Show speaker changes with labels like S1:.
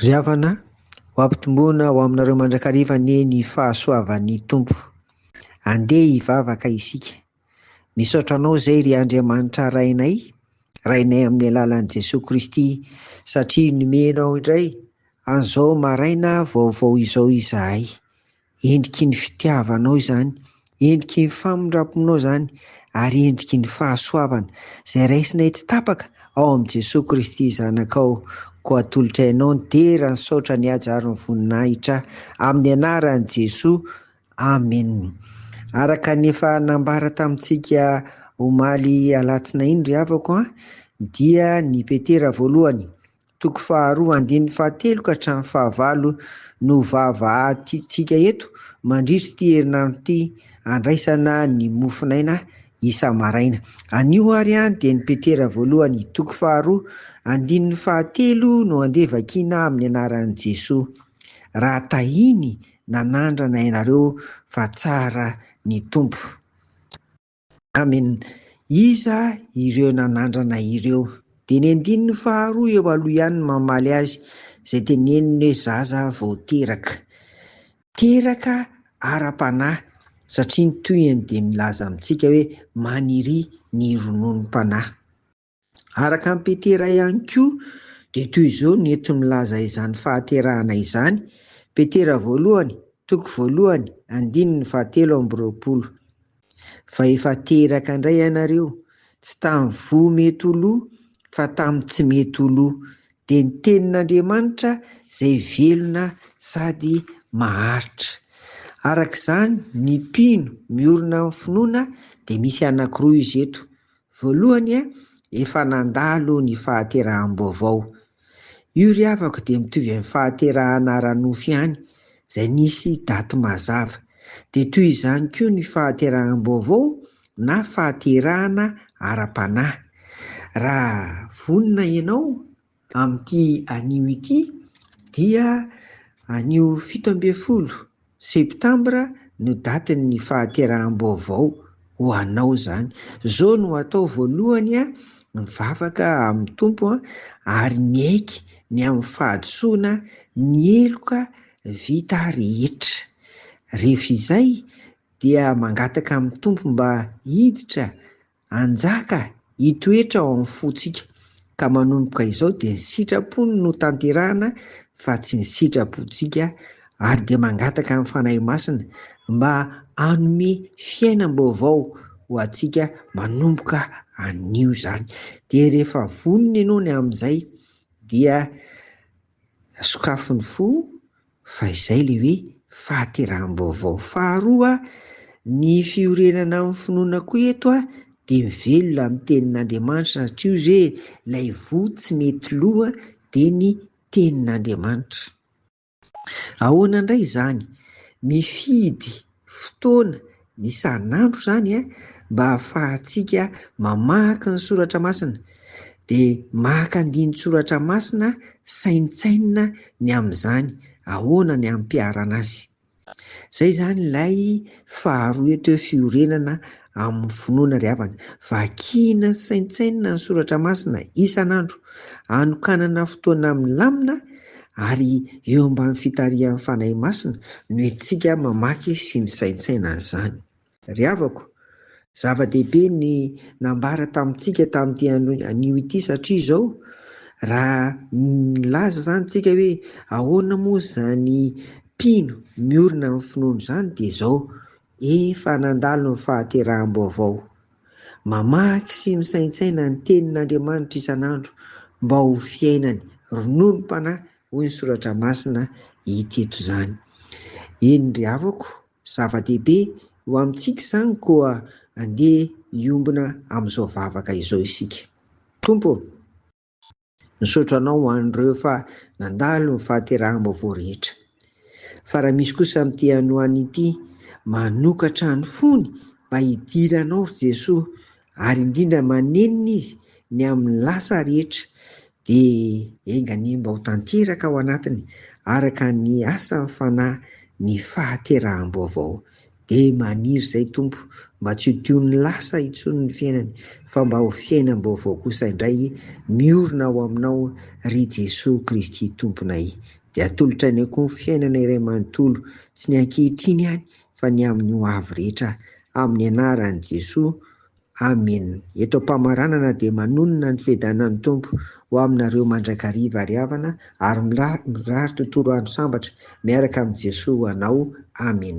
S1: Ry havana, ho ampitomboina ho aminareo mandrakariva anie ny fahasoavan'ny Tompo. Andeha hivavaka isika. Misaotra Anao izay ry Andriamanitra Rainay, Rainay amin'ny alalan'i Jesoa Kristy, satria nomenao indray an'izao maraina vaovao izao izahay. Endriky ny fitiavanao izany, endriky ny famindramponao izany, ary endriky ny fahasoavana, izay raisinay tsy tapaka ao amin'i Jesoa Kristy Zanakao, koa atolotra Ianao ny dera, ny saotra, ny haja ary ny voninahitra, amin'ny anaran'i Jesoa, Amen. Araka ny efa nambara tamintsika omaly alatsinainy ry havako an, dia ny Petera voalohany, Toko faharoa andininy fahatelo ka hatramin'ny fahavalo no vavahatintsika eto mandritry ity herinandro ity andraisana ny mofonaina isa-maraina. Anio ary dia ny Petera voalohany toko faharoa andininy fahatelo no andeha vakiana amin'ny anaran'i Jesoa. Raha tahiny nanandrana ianareo fa tsara ny Tompo. Amen! Iza ireo nanandrana ireo? Dia ny andininy faharoa eo aloha ihany no mamaly azy, izay teneniny hoe zaza vao teraka. Teraka ara-panahy, satria ny tohiny dia milaza amintsika hoe maniria ny rononom-panahy. Araka an'i Petera ihany koa, dia toy izao no enti-milaza izany fahaterahana izany, Petera voalohany, toko voalohany, andininy fahatelo amby roapolo, Fa efa teraka indray ianareo, tsy tamin'ny voa mety ho lo, fa tamin'ny tsy mety ho lo, dia ny tenin'Andriamanitra izay velona sady maharitra. Araka izany, ny mpino miorina amin'ny finoana dia misy anankiroa izy eto, Voalohany a, efa nandalo ny fahateraham-baovao. Io ry havako dia mitovy amin'ny fahaterahana ara-nofo ihany, izay nisy daty mazava. Dia toy izany koa ny fahateraham-baovao na fahaterahana ara-panahy. Raha vonona ianao Amin'ity anio ity dia anio fito ambin'ny folo septambra no datin'ny fahateraham-baovao ho anao izany. Izao no atao voalohany a, mivavaka amin'ny Tompo a, ary miaiky ny amin'ny fahadisoana ny heloka vita rehetra. Rehefa izay dia mangataka amin'ny Tompo mba hiditra Hanjaka hitoetra ao amin'ny fontsika, ka manomboka izao dia ny sitrapony no tanterahana fa tsy ny sitrapontsika, ary dia mangataka ny Fanahy Masina mba hanome fiainam-baovao ho antsika manomboka anio izany, dia rehefa vonona ianao ny amin'izay dia sokafy ny fo, Fa izay ilay hoe fahateraham-baovao. Faharoa, ny fiorenana amin'ny finoana koa eto dia mivelona amin'ny tenin'Andriamanitra satria hoy izy hoe ilay voa tsy mety lo dia ny tenin'Andriamanitra. Ahoana indray izany? Mifidy fotoana isan'andro izany mba hahafahantsika mamaky ny soratra masina dia maka andinin-tsoratra masina saintsainina ny amin'izany ahoana ny hampiharana azy. Izay izany ilay faharoa eto hoe fiorenana amin'ny finoana ry havana. Vakina sy saintsainina ny soratra masina isan'andro. Anokanana fotoana milamina ary eo ambany fitarihan'ny Fanahy Masina no entintsika mamaky sy misaintsaina an'izany. Ry havako, zava-dehibe ny nambara tamintsika tamin'ity anio ity satria izao, raha milaza izany isika hoe ahoana moa izany mpino miorina amin'ny finoana izany dia izao, Efa nandalo ny fahateraham-baovao. Mamaky sy misaintsaina ny tenin' Andriamanitra isan'andro mba ho fiainany rononom-panahy hoy ny soratra masina i Tito izany. Eny ry havako, zava-dehibe ho amintsika izany koa andeha hiombona amin'izao vavaka izao isika. Tompo ô! Misaotra anao ho an'ireo fa nandalo ny fahateraham-baovao rehetra. Fa raha misy kosa amin'ity hanoana ity manokatra ny fony mba hidiranao ry Jesoa ary indrindra manenina izy ny amin'ny lasa rehetra dia enga anie mba ho tanteraka ao anatiny araka ny asan'ny Fanahy ny fahateraham-baovao. Dia maniry izay Tompo mba tsy ho toy ny lasa intsony ny fiainany fa mba ho fiainam-baovao kosa indray miorina ao Aminao ry Jesoa Kristy Tomponay. Dia atolotra ny akoho fiainana iray manontolo tsy ny ankehitriny ihany fa ny amin'ny hoavy rehetra amin'ny anaran'i Jesoa. Amin. Eto am-pamaranana dia manonona ny fiadanan'ny Tompo ho aminareo mandrakariva ary havana ary mirary tontolo andro sambatra miaraka amin'i Jesoa ho anao. Amin.